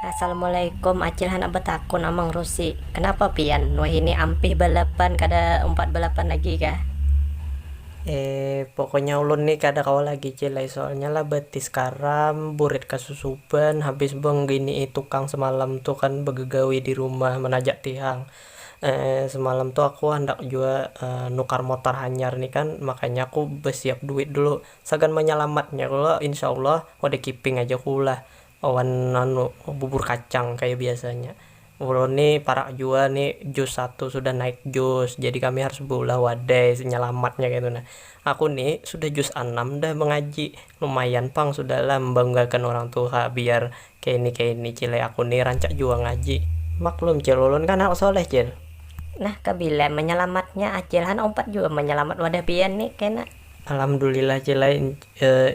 Assalamualaikum acil handak betakun amang rusi kenapa pian wahini ampih balapan kada umpat balapan lagi kah. Eee pokoknya ulun nih kada kawa lagi cil ai soalnya lah batis karam, burit kasusuban, habis bengginii tukang semalam tu kan begegawi di rumah menajak tihang, eee semalam tu aku handak jua nukar motor hanyar nih kan makanya aku besiap duit dulu sagan menyelamatnya kalo insya allah wadah kiping aja aku lah. Wan anu bubur kacang kaya biasanya. Ulun ni parak jua ni jus satu sudah naik jus jadi kami harus beulah wadai senyelamatnya kaitu nah. Aku ni sudah jus anam dah mengaji, lumayan pang sudah lah membanggakan urang tuha biar kaini kaini cil ai aku ni rancak jua ngaji. Maklum cil ulun kan anak soleh cil. Nah kabila menyelamatnya acil han umpat jua menyelamat wadah pian ni kena. Alhamdulillah Cil ai,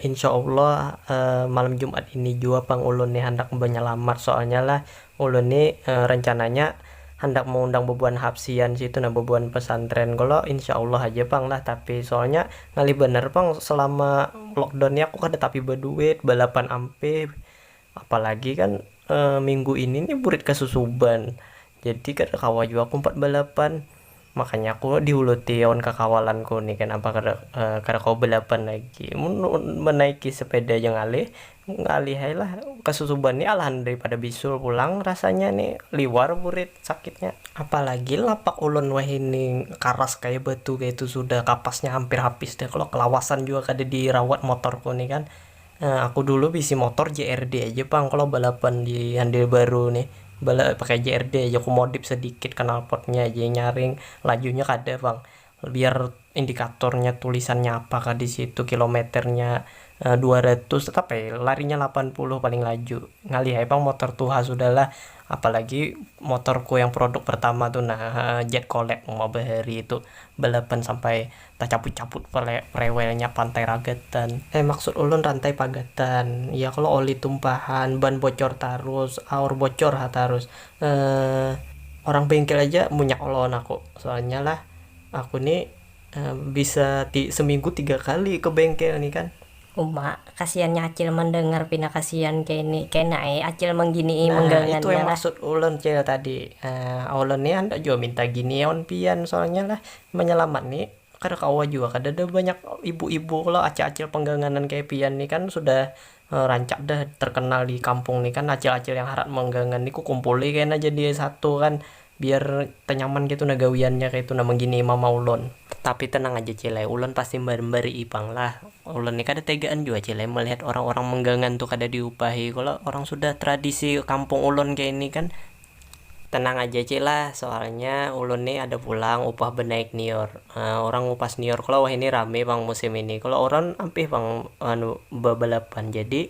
insya Allah malam Jumat ini jua pang ulun ni handak banyalamat, soalnya lah ulun ni rencananya handak meundang bebuhan hapsian situ nah, bebuhan pesantren kalo insya Allah haja pang lah, tapi soalnya ngalih banar pang selama lockdown ni aku kada tapi baduit, balapan ampih, Apalagi kan minggu ini nih burit kasusuban, jadi kada kawa jua aku umpat balapan, makanya aku diuluti lawan kakawalanku nih kanapa kada kada kawa balapan lagi, mun manaiki sepeda ja ngalih, ngalih ai lah kasusuban nih alahan dari pada bisul pulang rasanya nih liwar burit sakitnya. Apalagi lapak ulun wahini karas kaya batu kaya itu sudah kapasnya hampir habis dah kalo kelawasan jua kada dirawat motorku nih kan. Nah aku dulu bisi motor JRD aja pang kalo balapan di handil baru nih, pakai JRD aja ku modif sedikit knalpotnya aja yang nyaring, lajunya kada pang, biar indikatornya tulisannya apa kah disitu, kilometernya dua ratus tetap ai larinya lapan puluh paling laju, ngalih ai pang motor tuha sudah lah, apalagi motorku yang produk pertama tu nah jet collect uma bahari tu balapan sampai. Tacaput-caput pale rewelnya pantai ragatan. Eh maksud ulun rantai pagatan. Iya kalo oli tumpahan, ban bocor tarus, aur bocor ha tarus. Eeh orang bengkel aja munyak lawan aku. Soalnya lah aku ni bisa ti seminggu tiga kali ke bengkel ni kan. Uma, kasiannya acil mandangar pina kasian kene, kena e acil mangginii manggangannya lah. Nah itu yang maksud ulun cil tadi, ulun ni handak jua minta gini awan pian soalnya lah manyalamat ni kada kawa jua kadada banyak ibu ibu kalo acil acil pangganganan kaya pian ni kan sudah rancak dah terkenal di kampung ni kan acil acil yang harat manggangan ni kukumpuli kena jadi satu kan Biar tanyaman kaytu nah gawiannya kaytu nah mangginii mama ulun. Tapi tenang aja cile, ulun pasti mambari'i pang lah. Ulun ni kada tegaan jua cile melihat orang-orang manggangan tu kada diupahi kalo orang sudah tradisi kampung ulun kaya ini kan. Tenang aja cile, soalnya ulun ni ada pulang upah banaik nior. Orang ngupas nior kalo wahini rame pang musim ini kalo orang ampih pang anu babalapan jadi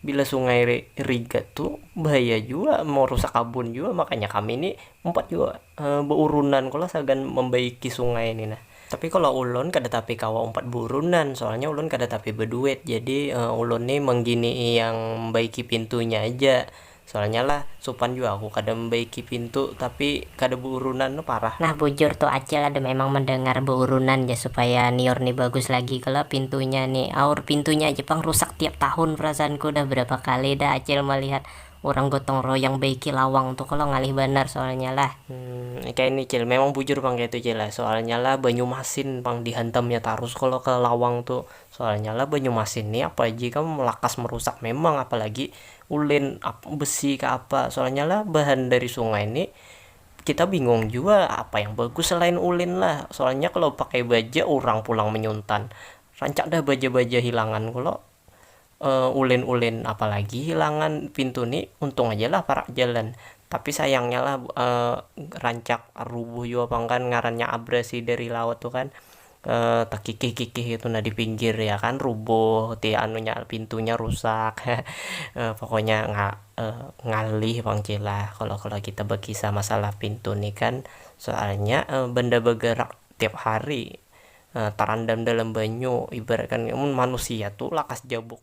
Bila sungai rigat tu bahaya jua marusak kabun jua makanya kami ni umpat jua baurunan ko lah sagan mambaiki sungai ni nah. Tapi kalo ulun kada tapi kawa umpat baurunan soalnya ulun kada tapi baduit jadi ulun ni mangginii yang baiki pintunya aja Soalnya lah supan jua aku kada membaiki pintu tapi kada beurunan tu parah. Nah bujur tu acil ada memang mendengar beurunan ja supaya nior ni bagus lagi kalo pintunya ni aur pintunya aja pang rusak tiap tahun perasaanku dah berapa kali dah acil melihat urang gotong royong baiki lawang tu kalo ngalih banar soalnya lah. Humm kaya ni cil memang bujur pang kaya tu cil lah soalnya lah banyu masin pang dihantamnya tarus kalo ke lawang tu soalnya lah banyu masin ni apa aji kam lakas merusak memang apalagi Ulin besi kah apa, soalnya lah bahan dari sungai ni kita bingung jua apa yang bagus selain ulin lah, soalnya kalo pakai baja urang pulang menyuntan rancak dah baja-baja hilangan kalo ulin-ulin apalagi hilangan pintu ni untung aja lah parak jalan tapi sayangnya lah rancak rubuh jua pang kan ngarannya abrasi dari laut tu kan. takikih-kikih itu nah di pinggir ya kan rubuh ti anunya pintunya rusak pokoknya ngalih pang cih lah kalau kalau kita bekisah masalah pintu ni kan soalnya benda begerak tiap hari terendam dalam banyu ibaratkan mun manusia tu lakas jabuk.